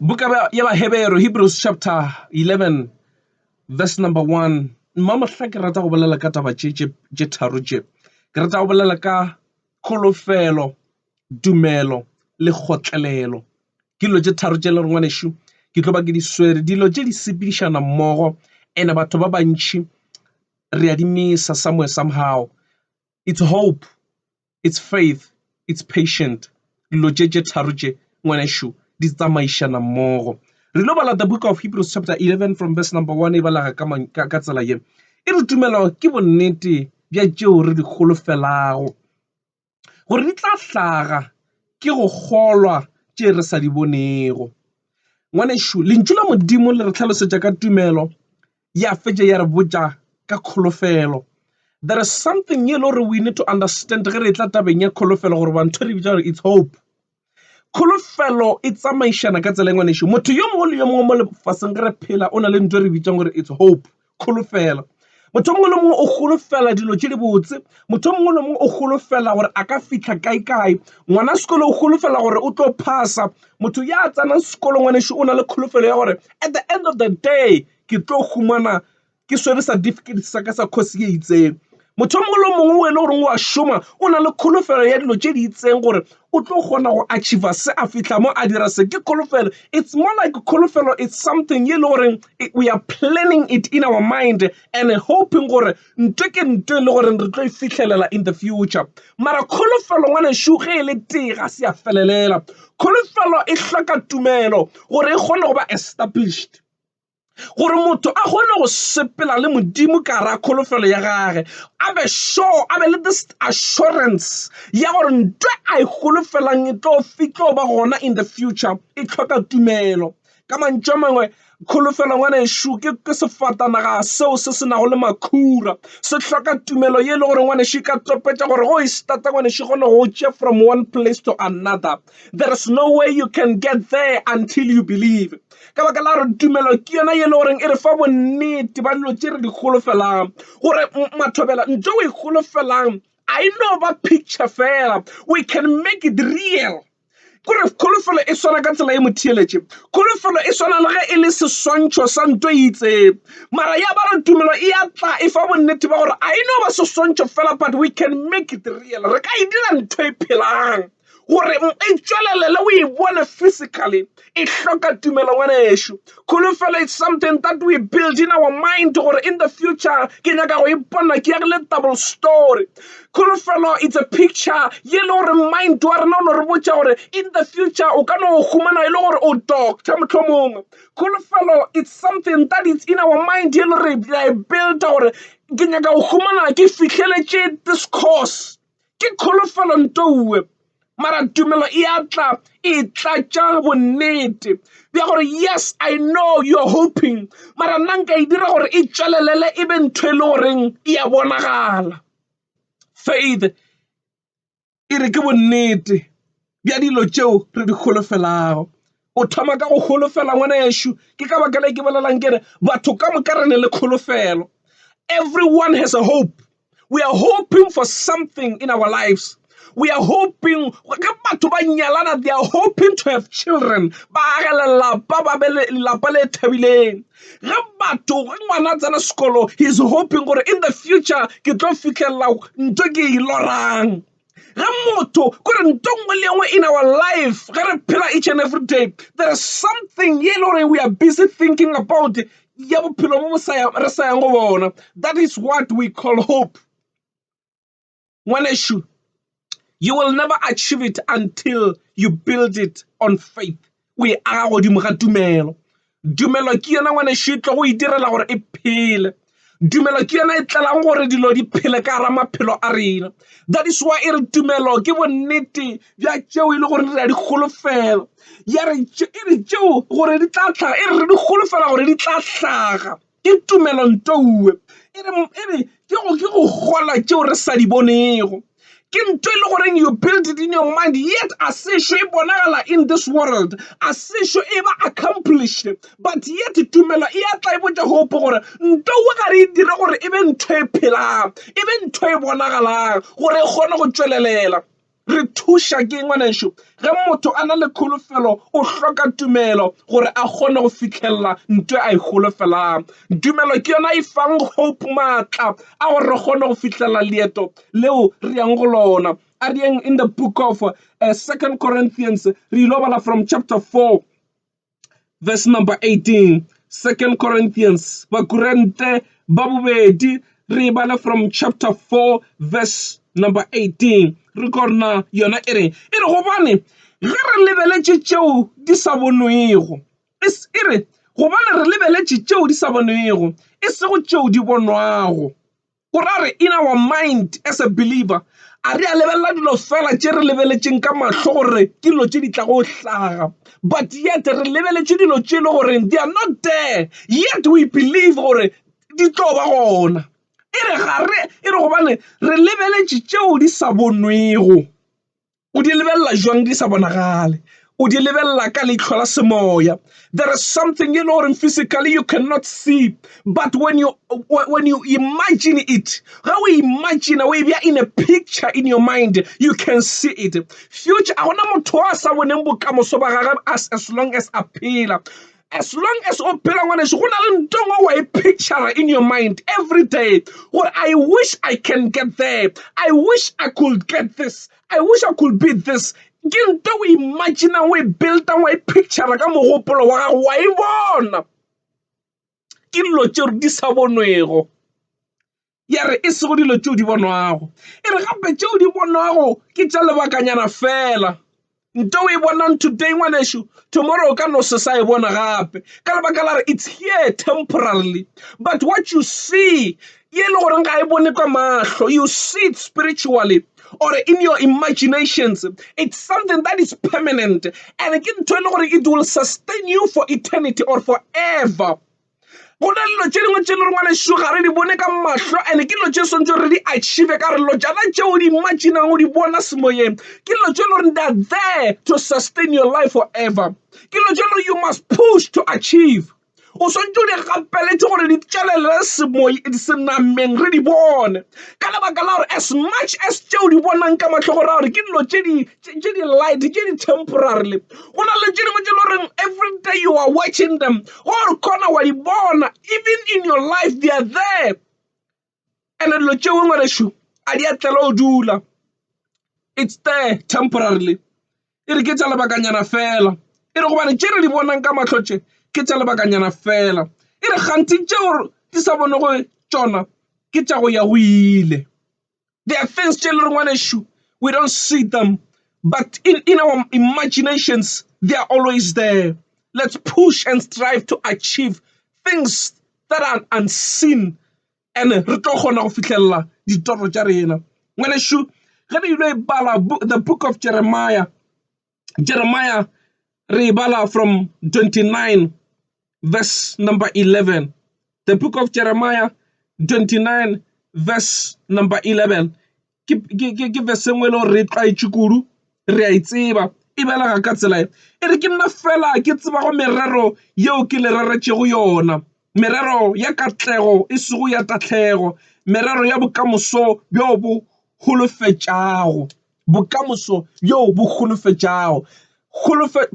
buka ya bahebero hebrews chapter 11 verse number 1 mmamohla ke rata go bolela ka taba tše tharo tše ke rata go bolela ka kholofelo tumelo le kgotlelelo ke dilo tše tharo tše le re ngwanešu ke tlo ba ke di swere dilo tše di sepedišana mmogo ene batho ba bantši re a di misa somewhere somehow It's hope, it's faith, it's patient. Dilo tše tše tharo tše ngwanešu di tsamaišana mmogo. Re lo bala the book of Hebrews chapter 11 from verse number 1 e balega ka tsela ye. E re tumelo ke bonnete bja tšeo re di holofelago gore di tla hlaga ke go kgolwa tše re sa di bonego. Ngwanešu, lentšu la Modimo le re tlhalosetša ka tumelo ya fetša ya re botša ka kholofelo. There is something ye lore we need to understand ge re tla tabeng ya kholofelo gore bantho re bitša gore it's hope. Kholofelo e tsamaišana ka tsela engwe nešo. Motho yo mongwe le yo mongwe mo lefaseng re phela o na le ntho e re bitšang gore it's hope, kholofelo. Motho mongwe le mongwe o golofela dilo tše di botse motho mongwe le mongwe o golofela gore a ka fihla kae kae ngwana sekolo o golofela gore o tlo phasa Motho ya tsenang sekolo ngwanešu o na le kholofelo ya gore at the end of the day ke tlo humana ke swere certificate sa ka sa course ye itseng. Motho o mongwe le o mongwe o e le goreng wa šoma o na le kholofelo ya dilo tše di itseng gore o tlo kgona go achiever se a fihla mo a dira se. Ke kholofelo it's more like kholofelo it's something ye e le goreng we are planning it in our mind and hoping gore Ntwe ke ntwe e le gore re tlo e fihlelela in the future. Mara kholofelo ngwanešu ge e le tee ga se ya felelela. Kholofelo e hloka tumelo gore e kgone go ba established. Gore motho a kgone go sepela le Modimo ka gare ga kholofelo ya gage, a be sure, a be le this assurance ya gore ntwe a e golofelang e tlo ba gona in the future e tlhoka tumelo. Ka mantšu a mangwe kholofelo ngwanešu ke sefatanaga seo se se nago le makhura. Se hloka tumelo ye e le gore ngwanešu e ka topetša gore go e starta ngwanešu kgone go tše from one place to another. There is no way you can get there until you believe. Ka baka la gore tumelo ke yona ye e le goreng e re fa bonnete ba dilo tše re di golofelang gore mathobela ntho o e golofelang I no ba picture fela we can make it real. kore kholofelo e swana ka tsela e motheeletše kholofelo e swana le ge e le seswantšho sa nto e itseng mara ya ba re tumelo e ya tla e fa bonnete ba gore a e no ba seswantšho fela but we can make it real re ka e dira ntho e phelang gore e tšwelelele o e bone physically e hloka tumelo ngwanešu. Kholofelo is something that we build in our mind gore in the future ke nyaka go ipona ke yagile double story. Kholofelo it's a picture ye le gore mind wa rena o no re botša gore in the future o ka no humana e le gore o doctor mohlomongwe. Kholofelo it's something that is in our mind ye le gore re a e builda gore ke nyaka go humana ke fihleletše this course. Ke kholofelo ntouwe, mara tumelo e a tla e tlatša bonnete bja gore yes I know you're hoping, mara nna nka e dira gore e tšwelelele e be ntho e le goreng e a bonagala. Faith e re ke bonnete. bja dilo tšeo re di holofelago. O thoma ka go holofela ngwana yešo. Ke ka baka le ke bolelang ke re batho ka moka re ne le kholofelo. Everyone has a hope. We are hoping for something in our lives. We are hoping ge batho ba nyalana they are hoping to have children ba age lelapa ba be lelapa le thabileng ge batho ge ngwana a tsena sekolo he is hoping gore in the future ke tlo fitlhelela nto ke e lorang Ge motho, ko re nto nngwe le nngwe in our life, ge re phela each and every day, there is something ye le gore we are busy thinking about ya bophelo bo re sa yang go bona. That is what we call hope. Ngwanešu, you will never achieve it until you build it on faith. o e aga godimo ga tumelo. Tumelo ke yona ngwanešu e tlogo itirela gore e phele. Tumelo ke yona e tlelang gore dilo di phele ka gara maphelo a rena. That is why e re tumelo ke bonnete bja tšeo e le gore re a di golofela. Ya re e re tšeo gore di tla tlhaga e re re di golofela gore di tla hlaga. Ke tumelo ntowe. E re, e re, ke go, ke go kgolwa tšeo re sa di bonego. Ke nto e le goreng you build it in your mind, yet a se ešo e bonagala in this world. A se ešo e ba accomplished. But yet tumelo e a tla e botša hope gore ntowe ga re e dire gore e be ntho e phelang, e be ntho e bonagalang gore e kgone go tšwelelela. Re thuša ke ngwanešu ge motho a na le kholofelo o hloka tumelo gore a kgone go fihlelela nto a e holofelang. Tumelo ke yona e fang hope maatla a gore re kgone go fihlelela leeto leo re yang go lona. A re yeng in the book of uh, Second Corinthians re ilo bala from chapter 4 verse number 18. Second Corinthians, Bakurente, Babubedi, re bala from chapter 4 verse number 18 re kona yona e re e re gobane ge re lebeletše tšeo di sa bonwego e re gobane re lebeletše tšeo di sa bonwego e sego tšeo di bonwago O ra re, in our mind as a believer, a re a lebelela dilo fela tše re lebeletšeng ka mahlo gore ke dilo tše di tlago go hlaga, but yet re lebeletše dilo tše e le goreng they are not there, yet we believe gore di tlo ba gona. E re ga re, e re gobane re lebeletše tšeo di sa bonwego. o di lebelela jwang di sa bonagale o di lebelela ka leitlho la semoya there is something e le goreng physically you cannot see but when you when you imagine it ga o imagine o e bja in a picture in your mind you can see it future a gona motho a sa boneng bokamoso ba gagwe as, as long as a phela as long as o phela ngwaneso go na le nto e ngwe wa e picture in your mind every day gore i wish i can get there i wish i could get this i wish i could be this ke nto o imaginang o e buildang wa e picture ka mogopolo wa gago wa e bona ke dilo tšeo di sa bonwego ya re e sego dilo tšeo di bonwago e re gape tšeo di bonwago ke tša lebakanyana fela nto o e bonang today ngwanešu tomorrow o ka no se sa e bona gape ka lebaka la re it's here temporarily but what you see ye e le goreng ga e bone ka mahlo you see it spiritually or in your imaginations it's something that is permanent and ke ntho e le gore it will sustain you for eternity or forever Go na le dilo tše dingwe tše le rengwa lešo ga re di bone ka mahlo ene ke dilo tše swantse re di achieve ka relo jana tšeo di imaginang o di bona semoyeng ke dilo tše le gore they're there to sustain your life forever ke dilo tše le you must push to achieve o swantse o di gapeletše gore di tšwelele semoy senameng re di bone ka lebaka la gore as much as tšeo di bonang ka mahlo go ra gore ke dilo tše di tše di light tše di temporarily go na le tše dingwe tše le goreng every day you are watching them gore kgona wa di bona even in your life they are there and dilo tše ngwe ngwanešu a di a tlela o dula it's there temporarily e re ke tša lebakanyana fela e re gobane tše re di bonang ka matlhotše ke tša lebakanyana fela e re kganthe tšeo di sa bonego tšona ke tša go ya go ile There are things tše leng ngwanešu we don't see them but in, in our imaginations they are always there. Let's push and strive to achieve things that are unseen and re tlo kgona go fitlhelela ditoro tša rena. Ngwanešu, ge re ile bala the book of Jeremiah Jeremiah re e bala from 29 verse number 11. The book of Jeremiah 29 verse number 11. Ke, ke, ke, ke verse engwe le re tlwaetše kudu re a e tseba e belega ka tsela e e re ke nna fela ke tseba go merero yeo ke le reretšego yona merero ya katlego e sego ya tatlhego merero ya bokamoso bjo bo holofetšago bokamoso bjoo bo holofetšago.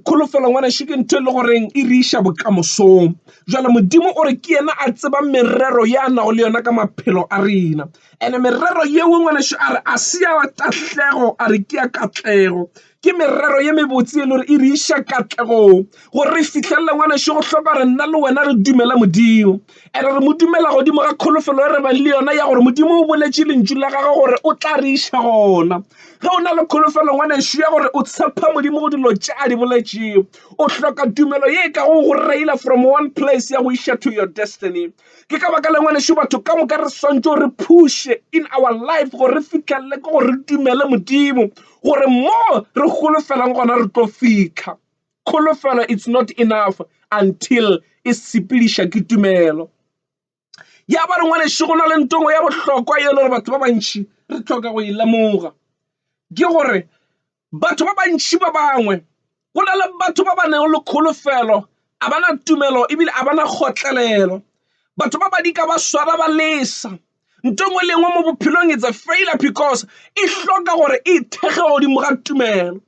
Kholofelo ngwanešu ke ntho e le goreng e re iša bokamosong. Jwale Modimo o re ke yena a tsebang merero ya nago le yona ka maphelo a rena, ene merero yeo ngwanešu a re a se ya tahlego, a re ke ya katlego. Ke merero ye mebotse e le gore e re iša katlegong gore re fihlelele ngwanešu go hloka gore nna le wena re dumele Modimo. and re mo dumela godimo ga kholofelo e re bang le yona ya gore modimo o boletše lentšu la gagwe gore o tla re iša gona ge o na le kholofelo ngwanešu ya gore o tshepha modimo go dilo tše a di boletšego o hloka tumelo ye e ka go go reila from one place ya go iša to your destiny ke ka baka le ngwanešu batho ka moka re swantšo re phushe in our life gore re fitlhelele ke gore re dumele modimo gore mo re golofelang gona re tlo fitlha Kholofelo it's not enough until e sepediša ke tumelo. Ya ba re ngwaneše go na le ntongo ya bohlokwa e le gore batho ba bantši re tlhoka go e lemoga ke gore batho ba bantši ba bangwe go na le batho ba ba neng le kholofelo a bana tumelo ebile a bana kgotlelelo batho ba ba di ka ba swara ba lesa nto ngwe le ngwe mo bophelong it's a failure because e hloka gore e thekge godimo ga tumelo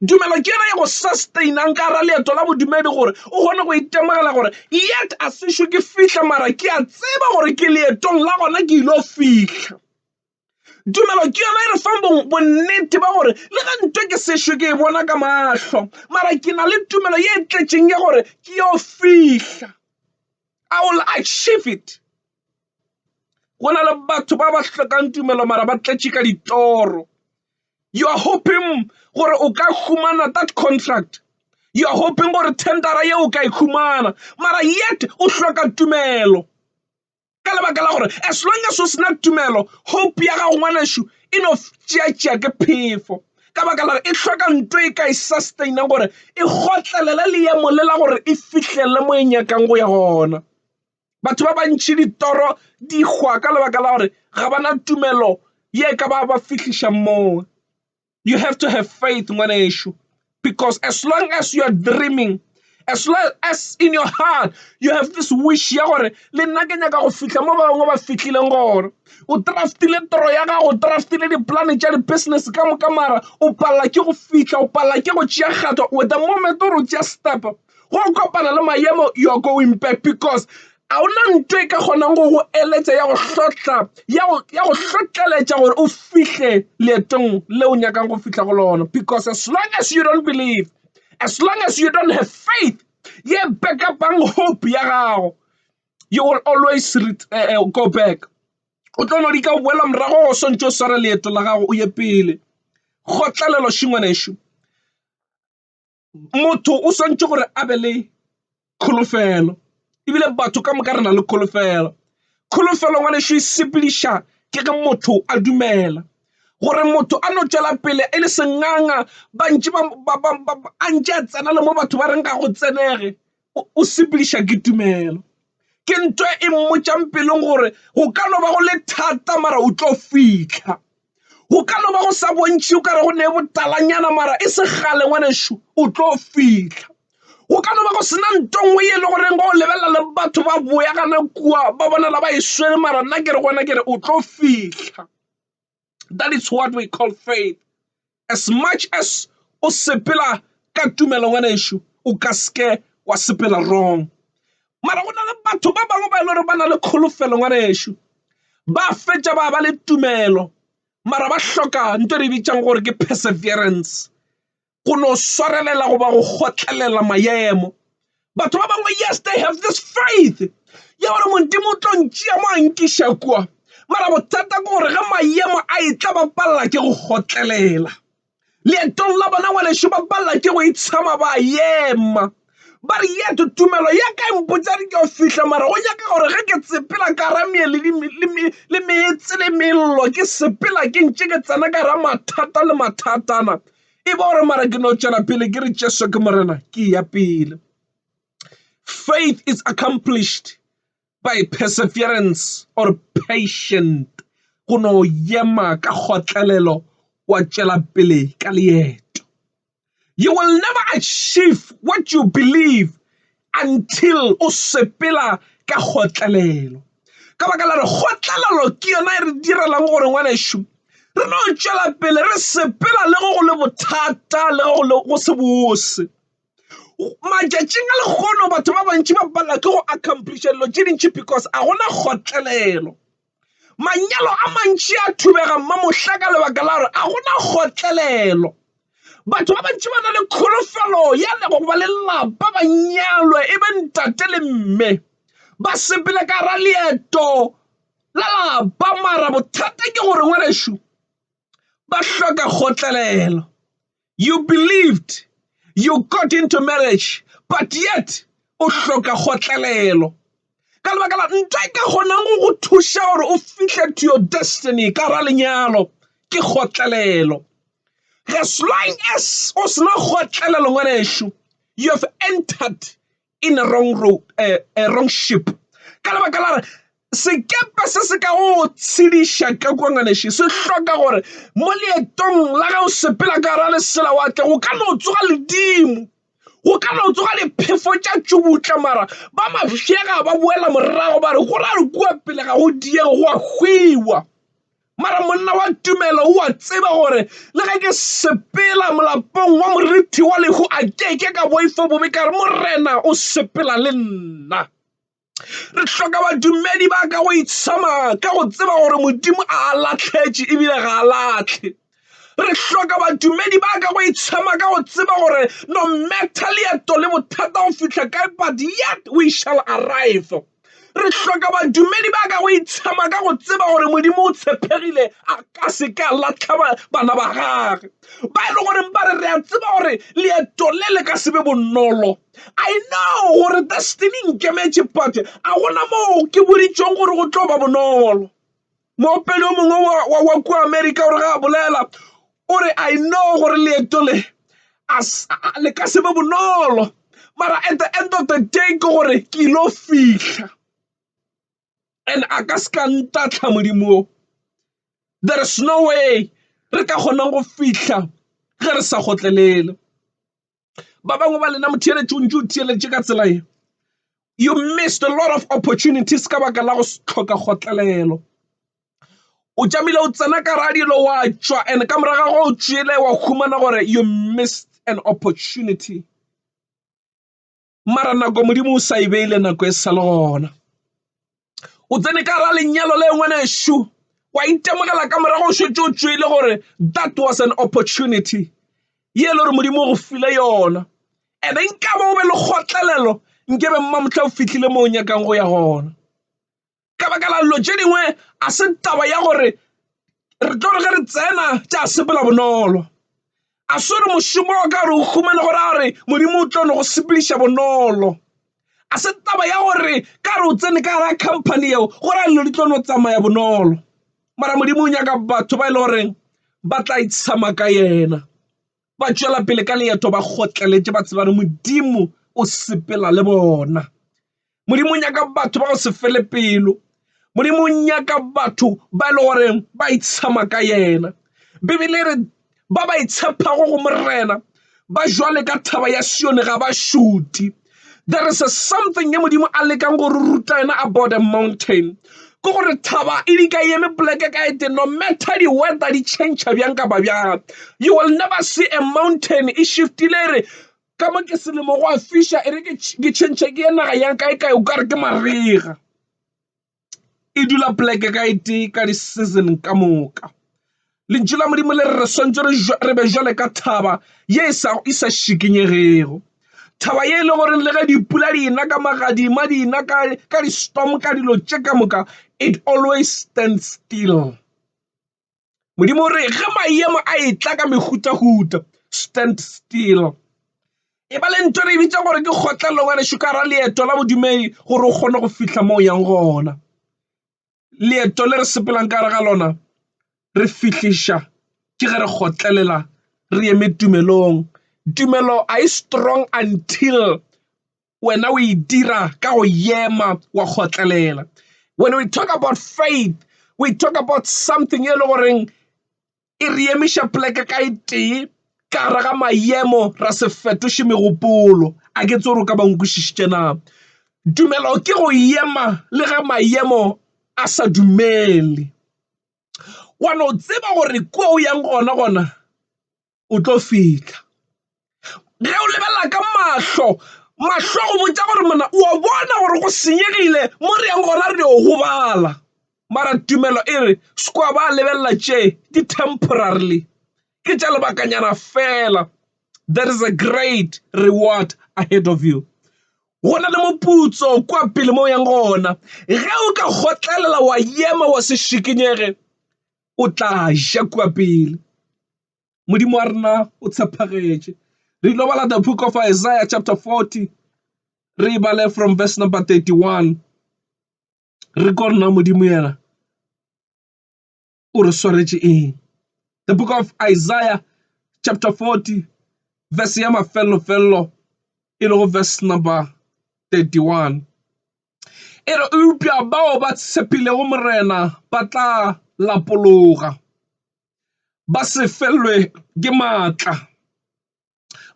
tumelo ke yona e go sustainang ka ra leeto la bodumedi gore o kgone go itemogela gore yet a sešo ke fihla mara ke a tseba gore ke leetong la gona ke ile fihla tumelo ke yona e re fang bonnete ba gore le ga nto ke sešo ke e bona ka mahlo mara ke na le tumelo ye e tletšeng ya gore ke yo fihla i will achieve it go na le batho ba ba hlokang tumelo mara ba tletše ka ditoro you are hoping gore o ka humana that contract you are hoping gore tendera ye o ka e humana mara yet o hloka tumelo ka lebaka la gore as long as o sena tumelo hope ya gago ngwanešu e no tšeatšea ke phefo ka baka la e hloka nto e ka e sustaina gore e gotlelele leemo le la gore e fihlele mo e nyakang go ya gona Batho ba bantši ditoro di hwa ka lebaka la gore ga ba na tumelo ye ka ba ba fihliša moo. You have to have faith ngwanešu because as long as you are dreaming as long as in your heart you have this wish ya gore le nna ke nyaka go fihla mo ba bangwe ba fihlileng gore o draft-ile toro ya gago o draft-ile dipolane tša di-business ka moka mara o palela ke go fihla o palela ke go tšea kgato with the moment o re o tšea step Go kopana le mayemo, you're going back because a o na nto e ka kgonang go go eletša ya go hlotla, ya go hlotleletša gore o fihle leetong le o nyakang go fihla go lona. Because as long as you don't believe, as long as you don't have faith, ye backupang hope ya gago, you will always uh, go back. O tlo no di ka boela morago go swantse o sware leeto la gago o ye pele. Kgotlalelo šingwanešu. motho o swanetše gore a be le kholofelo ebile batho ka moka re na le kholofelo. Kholofelo ngwanešu e sepediša ke ge motho a dumela gore motho a no tšwela pele e le senganga ba ntše ba a ntše a tsena le mo batho ba reng ga go tsenege o sepediša ke tumelo. Ke ntwa e mmotšang pelong gore go ka no ba go le thata mara o tlo fitlha. Go ka no ba go sa bontšhe o kare go ne botalanyana mara e se gale ngwanešu o tlo fitlha. Go ka no ba go sena nto nngwe e le goreng go lebelela le batho ba boya gana kua ba bonala ba e swere mara nna ke re gona ke re o tlo fitlha. That is what we call faith. As much as o sepela ka tumelo ngwana ešo o ka seke wa sepela wrong mara go na le batho ba bangwe ba e le gore ba na le kholofelo ngwana ešo ba fetša ba ba le tumelo mara ba hloka nto re bitsang gore ke perseverance go no swarelela goba go kgotlelela maemo. Batho ba bangwe, yes, they have this faith ya gore Modimo o tlo ntšea mo a nkiša kua, mara bothata ke gore ge maemo a e tla ba palela ke go kgotlelela. Leetong la bona ngwanešu ba palela ke go itshama ba ema ba re yet tumelo ya ka e mpotsa re ke fihla mara go nyaka gore ge ke tsepela ka ra meye le meetse le mello ke sepela ke ntše ke tsena ka ra mathata le mathatana e ba gore mara ke no tšwela pele ke re jesu ke morena ke ya pele faith is accomplished by perseverance or patient go no yema ka kgotlelelo wa tšwela pele ka leeto you will never achieve what you believe Until o sepela ka kgotlelelo. Ka baka la re kgotlelelo ke yona e re direlang gore ngwanešu re no tšwela pele re sepela le go go le bothata le go le go se bose. Matšatšing a lehono batho ba bantši ba palelwa ke go accomplish-a dilo tše dintši because a gona kgotlelelo. Manyalo a mantši a thubega mmamohla ka lebaka la gore a gona kgotlelelo. Batho ba bantši ba na le kholofelo ya lego go ba le lapa, ba nyalwe e be ntate le mme, ba sepele ka ra leeto la lapa. Mara bothata ke gore ngwanešu ba hloka kgotlelelo you believed you got into marriage but yet o hloka kgotlelelo ka lebaka la ntho e ka kgonang go go thuša gore o fihle to your destiny ka ra lenyalo ke kgotlelelo as long as o sena kgotlelelo ngwanešu you have entered in a wrong road, uh, a wrong ship. Ka lebaka la re sekepe se se ka go tshediša ka kua ngwaneši se hloka gore mo leetong la gago sepela ka ra lesela wa tle go ka no tsoga ledimo go ka no tsoga diphefo tša tšubutla mara ba mafšega ba boela morago ba re go ra re kua pele ga go diego go a hwiwa Mara monna wa tumelo o a tseba gore le ge ke sepela molapong wa morithi wa lehu a ke ke ka boifa bobe ka re Morena o sepela le nna. Re hloka badumedi ba ka go itshama ka go tseba gore Modimo a a latlhetše ebile ga a latlhe. Re hloka badumedi ba ka go itshama ka go tseba gore no matter leeto le bothata go fihla kae but yet we shall arrive. Re hloka badumedi ba ka go itshema ka go tseba gore Modimo o tshepegile a ka se ka latlha bana ba gage ba e le goreng ba re re a tseba gore leeto le le ka se be bonolo I know gore destiny nkemetše but a gona moo ke boditšong gore go tlo ba bonolo Moopedi o mongwe wa, wa, wa kua Amerika o re ga a bolela o re i know gore leeto le a s- a- le ka se be bonolo mara at the end of the day ke gore ke ilo fihla and a ka se ka ntatlha modimo o there is no way re ka kgonang go fihla ge re sa gotlelele ba bangwe ba lena motheeletši o ntse o theeletše ka tsela e you missed a lot of opportunities ka baka la go tlhoka kgotlelelo o tšamile o tsena ka radilo wa tšwa and ka moraga go o tšwele wa humana gore you missed an opportunity mara nako modimo o sa e beile nako e sa le gona o tsene ka ra lenyalo le ngwanešu wa itemogela ka morago šetse o tswile gore that was an opportunity ye le gore modimo o go file yona ene nkabo o be le kgotlelelo nkebe mmamotlha o fitlhile mo o nyakang go ya gona ka baka la dilo tše dingwe ga se taba ya gore re tlo re ge re tsena tša sepela bonolo a se gore mošomo wa ka gore o humane go raya gore modimo o tlo no go sepediša bonolo a se taba ya gore ka re o tsene ka gara company yeo go raya dilo di tlo no tsamaya bonolo mara modimo o nyaka batho ba e le goreng ba tla itshama ka yena ba tšwela pele ka leeto ba kgotleletše ba tseba gore Modimo o sepela le bona. Modimo o nyaka batho ba go se fele pelo. Modimo o nyaka batho ba e le goreng ba itshama ka yena. Bibele e re ba ba itshepago go Morena ba jwale ka thaba ya Sione ga ba šute. there is a something e modimo a lekang go re ruta yona about a mountain ke gore thaba e di ka eme poleke ka ete no matter di-weather di change bjang kapa bjang you will never see a mountain e shiftile e re ka mo ke selemo go a fisha e re ke change ke ye naga yang kae kae o ka re ke marega e dula poleke ka e tee ka di season ka moka. Lentšu la Modimo le re re swantse re be jwale ka thaba ye e sa e sa šikinyegego. Thaba ye e le gore le ge dipula di ena ka magadima di ena ka ka di storm ka dilo tše ka moka it always stand still. Modimo o re ge maemo a e tla ka mehutahuta stand still e ba le ntho re e bitsa gore ke kgotlelelo ngwaneso ka ra leeto la bodumedi gore o kgone go fitlha mo o yang gona. Leeto le re sepelang ka gare ga lona re fihliša ke ge re kgotlelela re eme tumelong. Tumelo a e strong until Wena o e dira ka go yema wa kgotlelela. When we talk about faith, we talk about something e le goreng e re emiša poleke ka e tee ka gare ga mayemo ra se fetoše megopolo a ke tsoro ka bankwešišitše na tumelo ke go yema le ge mayemo a sa dumele wa no tseba gore kua o yang gona gona o tlo fihla ge o lebelela ka mahlo mahlo go botsa gore mona o a bona gore go senyegile mo re yang gona re yo gobala mara tumelo e re se kwa ba lebelela tše di temporarily ke tša lebakanyana fela there is a great reward ahead of you go na le moputso kwa pele mo yang gona ge o ka kgotlelela wa yema wa se šikinyege o tla ja kua pele. Modimo wa rena o tshepagetše. Re ilo bala the book of Isaiah chapter 40, re e bale from verse number 31. Re ko rena Modimo yena o re swaretše eng. The book of Isaiah chapter 40 verse ya mafellofello e lego verse number 31. E re eupša bao ba tshepilego Morena ba tla lapologa, ba se felwe ke maatla,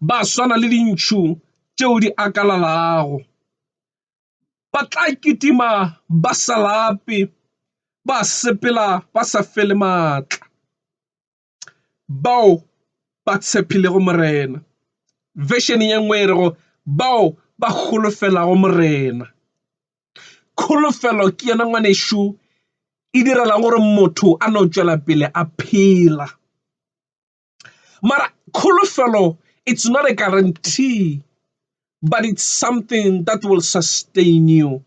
ba swana le dintšhu tšeo di akalalago. Ba tla kitima ba sa lape, ba sepela ba sa fele maatla. bao ba tshepilego Morena. Version ye nngwe e rego bao ba holofelago Morena. Kholofelo ke yona ngwanešu e direla gore motho a no tšwela pele a phela. Mara kholofelo it's not a guarantee but it's something that will sustain you.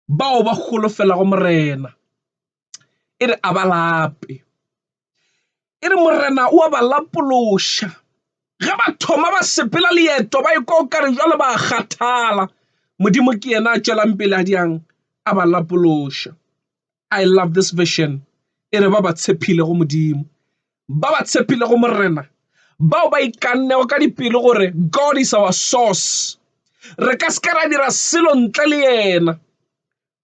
bao ba holofelago Morena, e re a ba lape. E re Morena o a ba lapološa. Ge ba thoma ba sepela leeto ba ikwa o kare jwale ba kgathala, Modimo ke yena a tšwelang pele a diang a ba lapološa. I love this vision. E re ba ba tshepilego Modimo ba ba tshepilego Morena, bao ba ikannego ka dipelo gore God is our source. Re ka se ka ra dira selo ntle le yena.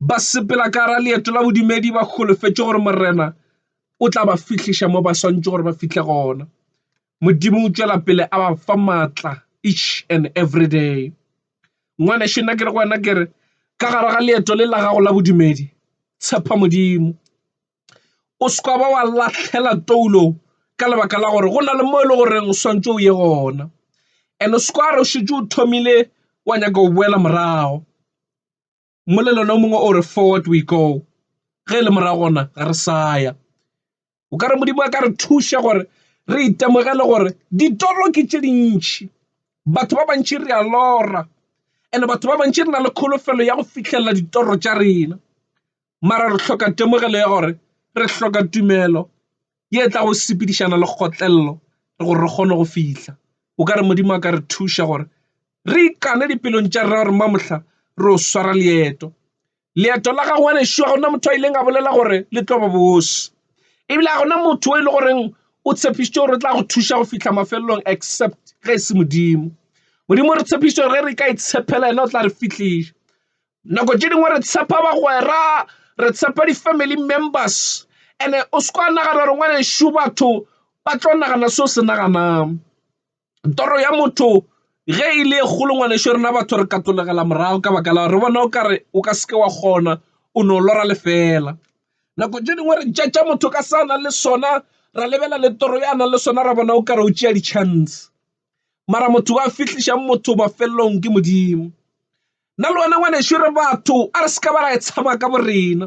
Ba sepela ka ra leeto la bodumedi ba holofetše gore Morena o tla ba fihliša mo ba swantše gore ba fihle gona. Modimo o tšwela pele a ba fa matla each and every day. Ngwanešu nna ke re go wena ke re ka gare ga leeto le la gago la bodumedi tshepa Modimo. o se ka ba wa lahlela toulo ka lebaka la gore go na le mo e leng gore o swantšho o ye gona and o se ka re o šetše o thomile wa nyaka go boela morago. Mmolelano o mongwe o re forward we go ge e le morago gona ga re sa ya o kare Modimo a ka re thuša gore re itemogele gore ditoro ke tše dintšhi. Batho ba bantši re a lora and batho ba bantši re na le kholofelo ya go fitlhelela ditoro tša rena. mara re hloka temogelo ya gore re hloka tumelo ye tla go sepedišana le kgotlelelo gore re kgone go fihla. O ka re Modimo a ka re thuša gore re ikane dipelong tša rena gore mamohla re o swara leeto leeto la ga ngwane šua gona motho a ileng a bolela gore le tlo ba bosi ebile ga gona motho o e le goreng o tshepišitše gore o tla go thuša go fihla mafelelong except ge e se modimo modimo re tshepišitše gore re ka itshepela yena o tla re fihliša Nako tše dingwe re tshepa bagwera, re tshepa di-family members and-e o se ka nagana gore ngwanešu batho ba tlo nagana seo se naganang. Toro ya motho ge e le e kgolo ngwanešu rena batho re katologela morago ka baka la gore re bona o kare o ka se ke wa kgona o no lora lefela. Nako tše dingwe re judge-a motho ka se a nang le sona ra lebelela le toro ya nang le sona ra bona o kare o tšea di-chance mara motho wa fihlišang motho mafelelong ke Modimo. nna le wena ngwaneso re batho a re se ka ba ra e tshaba ka borena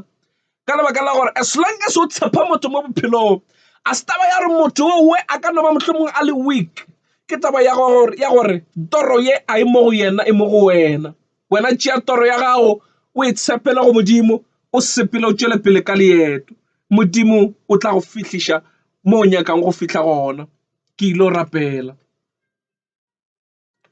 ka lebaka la gore as long as o tshepa motho mo bophelong a se taba ya gore motho owe a ka no ba mohlomongwe a le weak ke taba ya gore ya gore toro ye a e mo go yena e mo go wena wena tšea toro ya gago o e tshepele go modimo o sepele o tšwele pele ka leeto modimo o tla go fihliša mo o nyakang go fihla gona ke ile o rapela